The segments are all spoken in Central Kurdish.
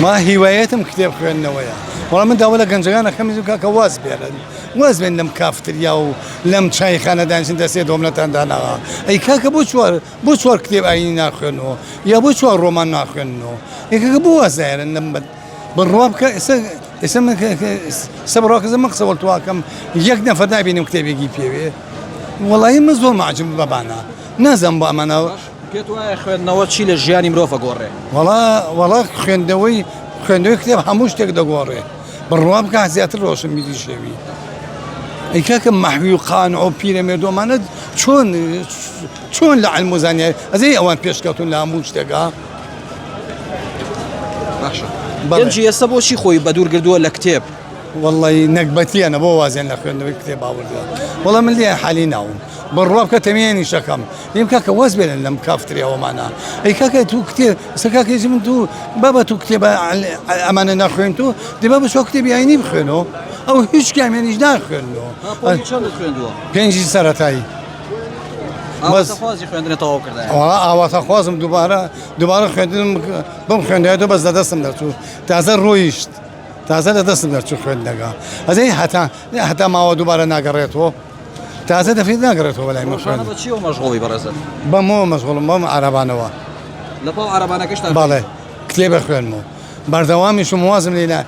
من هیوایەتم کتێب خوێندنەوەیە وەڵا من داوا لە گەنجەکان دەکەم بزن کاکە واز بێنن واز بێن لەم کافتریا و لەم چایخانە دانیشن دە سێ دۆمنەتان داناوە ئەی کاکە بۆ چوار بۆ چوار کتێب ئاینی ناخوێنەوە یا بۆ چوار ڕۆمان ناخوێنەوە یەکەکە بۆ واز نایەنن لەم بەد بڕوا بکە ئێستا ئێستا من کە- کە- ئێستا بڕواکەزە من قسە وەڵتواکەم یەک نەفەر نابینم کتێبێکی پێوێ وەڵی من زۆر ماجم بەبانە نازم بۆ ئەمانە پێت وایە خوێندنەوە چی لە ژیانی مرۆڤ ئەگۆڕێ؟ وەڵا وەڵا خوێندنەوەی خوێندنەوەی کتێب هەموو شتێک دەگۆڕێ بڕوا بکە زیاتر ڕۆشنبیری شێوی ئەی کاکە مەحوی و قانع و پیرەمێردۆمانە چۆن چۆن لە علم و زانیاری ئەزەی ئەوان پێشکەوتون لە هەموو شتێکا باشە بەڵێ. گەنجی ئێستا بۆچی خۆی بە دوور گردووە لە کتێب وەڵی نەگبەتیانە بۆ وازیان لە خوێندنەوەی کتێب باوەڕدار وەڵا من لێ حالی ناوم بڕوا بکە تەمێنیش دەکەم لێم کاکە واز بێنە لەم کافتریاوەمانە ئەی کاکە تو کتێ سە کاکەیزی من تو بابە تو کتێبە ئەمانە ناخوێن تو دێ بابە چوا کتێبی ئاینی بخوێنەوە ئەو هیچ کامیانیش ناخوێنەوە پێنجی سەرەتایی ئاواتە خوازم دووبارە دووبارە خوێندنم بم خوێندێتەوە بەس لە دەستم دەچوو تازە ڕۆیشت تازە لە دەستم دەچوو خوێندنەکە ئەزەی هەتا هەتا ماوە دووبارە ناگەڕێتەوە تازە دەفرێت ناگەڕێتەوە بەلای من ڕۆژانە بە چیەوە مەشغوڵی بەڕێزم بەمەوە مەشغوڵم بەم عەرەبانەوە لەپاڵ عەرەبانەکەشتا بەڵێ کتێبە خوێنمەوە بەردەوامیشم وازم لێنا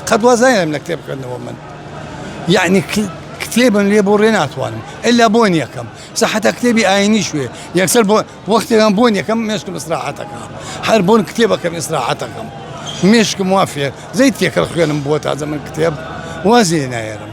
قەت وازایەم لە کتێب خوێندنەوە من یعنی کتێبم لێ بۆ ڕێ ناتوانم ئەلا بۆن یەکەم سە حتا کتێبی ئاینی شوێ یەکسەر بۆ وەختێکم بۆن یەکەم مێشکم ئسراحەتەکە هەر بۆن کتێبەکەم ئسراحەتەکەم مێشکم وافێ زەی تێکەڵ خوێنم بووە تازە من کتێب وازێ نایەرم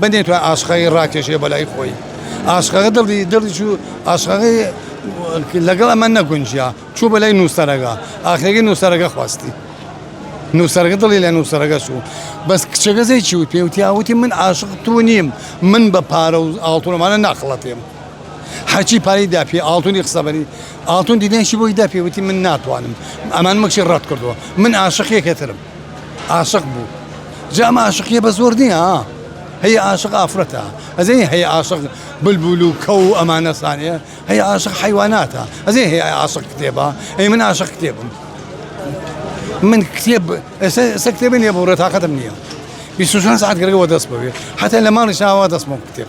من نەیتوانی ئاشقەکەی ڕاکێشێ بە لای خۆی. ئاشقەکە دڵی دڵی چوو، ئاشقەکەی لەگەڵ ئەمە نەگونجیا، چوو بە لای نووسەرەکە، ئاخرەکەی نووسەرەکە خواستی. نووسەرەکە دڵی لە نووسەرەکە چوو. بەس کچەکە سەی چی وت؟ پێی وتیا وتی من ئاشق تۆ نیم، من بە پارە و ئاڵتوون ئەمانە ناخڵەتێم. هەرچی پارەی دا پێ، ئاڵتوونی خستە بەری ئاڵتوون، دینەیەکی بۆی دا پێی وتی من ناتوانم، ئەمانە مەکچی ڕەت کردووە. من ئاشقی یەکێترم. عاشق بوو جا ئەمە عاشقیە بە زۆر نییە ها هەیە عاشق ئافرەتە ئەزێ هەیە عاشق بلبول و کەو و ئەمانەسانێ هەیە عاشق حیواناتە ئەزێ هەیە عاشق کتێبە ئەی من عاشق کتێبم من کتێب ئێستا ئێستا کتێبی نییە بۆ ڕێ تااقەتم نییە بیست و چوار ساعت گەرەوە دەست بەوێ حتا لە ماڵی شاوا دەستمەوە کتێب